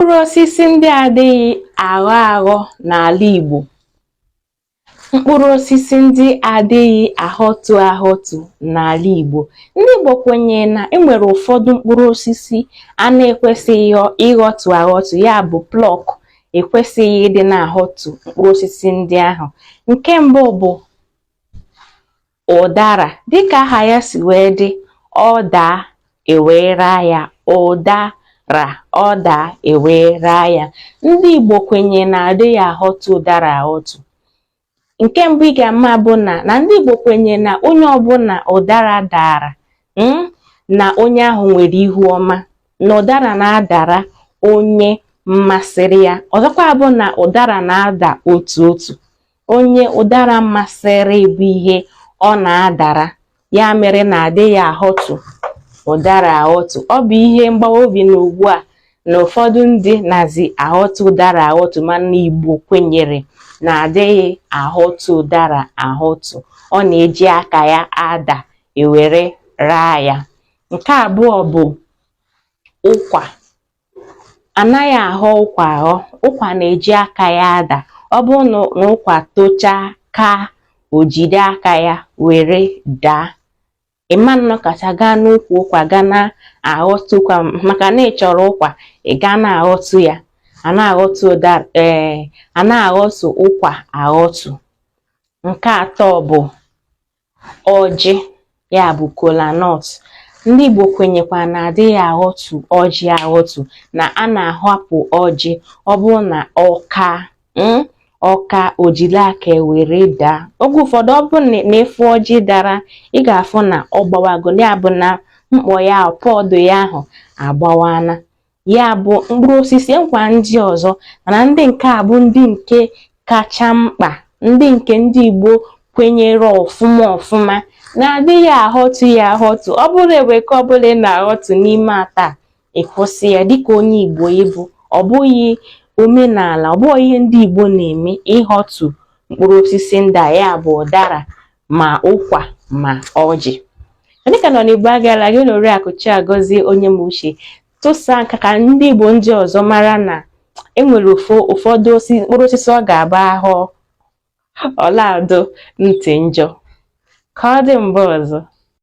mkpụrụ osisi ndị adịghị aghọ aghọ n'ala Igbo mkpụrụ osisi ndị adịghị aghọtu aghọtu n'ala Igbo ndị Igbo kwenyere na enwere ụfọdụ mkpụrụ osisi a na-ekwesịghị ịghọtu aghọtu ya bụ pluck ekwesịghị ịdị na-aghọtu mkpụrụ osisi ndị ahụ nke mbụ bụ ụdara dịka aha ya si wee dị ọ daa ewee raa ya ụdara ọ daa ewee raa ya ndị Igbo kwenye na adịghị aghọtu ụdara aghọtu nke mbụ ị ga-ama bụ na na ndị Igbo kwenye na onye ọbụla ụdara dara hmm, na onye ahụ nwere ihu ọma na ụdara na-adara onye masịrị ya ọzọkwa bụ na ụdara na-ada otu otu onye ụdara masịrị bụ ihe ọ na-adara ya mere na adịghị aghọtu ụdara aghọtu ọ bụ ihe mgbawa obi na ugbu a na ụfọdụ ndị nazi aghọtu ụdara aghọtu mana Igbo kwenyere na adịghị aghọtu ụdara aghọtu ọ na-eji aka ya ada ewere raa ya nke abụọ bụ ụkwa anaghị aghọ ụkwa aghọ ụkwa na-eji aka ya ada ọ bụrụ na ụkwa tochaa ka o jide aka ya were daa ị ma nọkata gaa n'ukwu ụkwa gaa na-aghọtu ụkwa maka na ị chọrọ ụkwa ị gaa na-aghọtu ya a na-aghọtu ụda ee a na-aghọtu ụkwa aghọtu nke atọ bụ ọjị ya bụ kola nut ndị Igbo kwenyekwa na adịghị aghọtu ọjị aghọtu na a na-ahapụ ọjị ọ bụrụ na ọ kaa hmm, ọ kaa o jiri aka were daa oge ụfọdụ ọ bụrụ na ị fụ ọjị dara ị ga-afụ na ọ gbawago ya bụ na mkpọ ya pod ya ahụ agbawana ya bụ mkpụrụ osisi nkwa ndị ọzọ mana ndị nke a bụ ndị nke kacha mkpa ndị nke ndị Igbo kwenyere ọfụma ọfụma na adịghị aghọtu ya aghọtu ọ bụrụ enwee nke ọbụla ị na-aghọtu n'ime atọ a ị kwụsị ya dịka onye Igbo ị bụ ọ bụghị omenala ọ bụghị ihe ndị Igbo na-eme ịghọtu mkpụrụ osisi ndị a ya bụ ụdara ma ụkwa ma ọjị ndị ka nọ n'Igbo agaala gị na Oriakụ Chiagọzie Onyemuche tụsaa nke a ka ndị Igbo ndị ọzọ mara na enwere ụfọ ụfọdụ osi mkpụrụ osisi ọ ga-agba ahụ ọlaado ntị njọ ka ọ dị mgbe ọzọ